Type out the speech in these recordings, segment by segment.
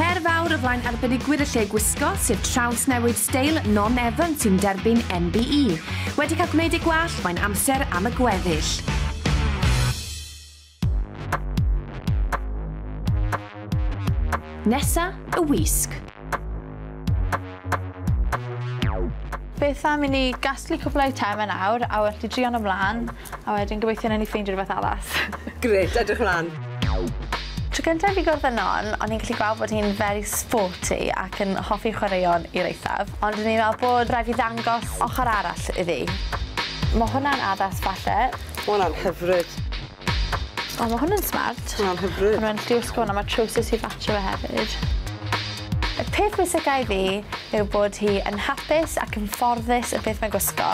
Her fawr o flaen arbenigwyr y lle gwisgo, sef trawsnewid steil Non Evans sy'n derbyn MBE. Wedi cael gwneud ei gwall, mae'n amser am y gweddill. Nesa y wisg. Beth am i ni gasglu cwpl o eitemau nawr a werthu drion ymlaen. A wedyn gobeithio newn ni ffeindio rwbeth arall. Grêt, edrych mlan. Tro cynta i fi gwrdd â Non, o'n i'n gallu gweld bod hi'n very sporty ac yn hoffi chwaraeon i'r eithaf, ond o'n i'n meddwl bod rhaid fi ddangos ochr arall iddi. Ma' hwnna'n addas falle. Ma' hwnna'n hyfryd. O ma' hwn yn smart. Ma' hwnna'n hyfryd. Ma' fe'n lluosog hwn a ma' trowsus i fatsio fe hefyd. Y peth pwysica i fi yw bod hi yn hapus ac yn ffyrddus y beth mae'n gwisgo.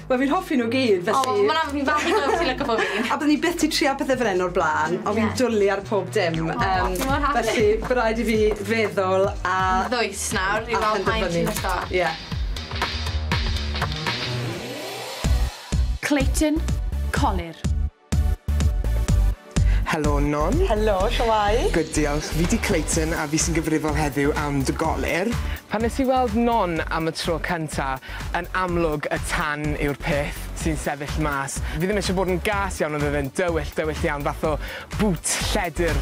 Wel fi'n hoffi nhw gyd felly... O ma' hwnna'n fi'n falch i glywed ti'n lico pob un. A byddwn i byth 'di trial pethe fel 'yn o'r bla'n ond fi'n dwli ar pob dim yym... O fi mor hapus. ...felly by' raid i fi feddwl a... Yn ddwys nawr i weld pa un ti'n lico. Ie. Clayton, colur. Helo Non. Helo, shwmae? Good diolch, fi 'di Clayton a fi sy'n gyfrifol heddiw am dy golir. Pan nes i weld Non am y tro cynta, yn amlwg y tan yw'r peth sy'n sefyll mas. Fi ddim eisiau bod yn gas iawn ond oedd e'n dywyll, dywyll iawn, fath o boot lledr.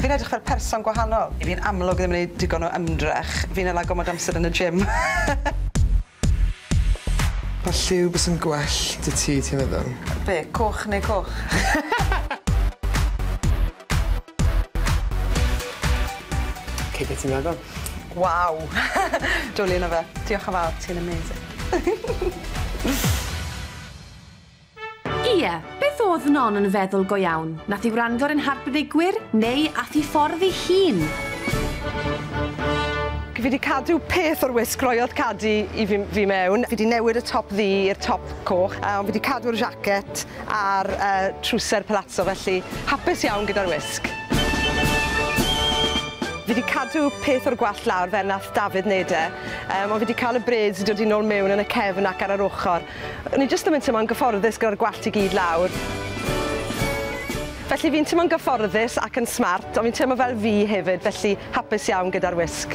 Fi'n edrych fel person gwahanol. Fi'n amlwg ddim yn neud digon o ymdrech. Fi'n hala gormod o amser yn y gym. Pa lliw bysa'n gwell 'da ti, ti'n meddwl? Be', coch neu coch? Ok, be' ti'n meddwl? Waw! Dwli yno fe. Diolch yn fawr, ti'n amazing. Ie, beth o'dd Non yn feddwl go iawn? Nath i wrando ar ein harbenigwyr, neu ath i ffordd i hun? Fi di cadw peth o'r wisg roiodd Cadi i fi fi mewn. Fi di newid y top ddu i'r top coch a ond fi di cadw'r jacket a'r yy trwser palazzo felly hapus iawn gyda'r wisg. Fi di cadw peth o'r gwallt lawr fel nath Dafydd neud e yym ond fi di ca'l y braids i dod i nôl mewn yn y cefn ac ar yr ochor. O'n i jyst ddim yn teimlo'n gyfforddus gyda'r gwallt i gyd lawr. Felly fi'n teimlo'n gyfforddus ac yn smart, ond fi'n teimlo fel fi hefyd, felly hapus iawn gyda'r wisg.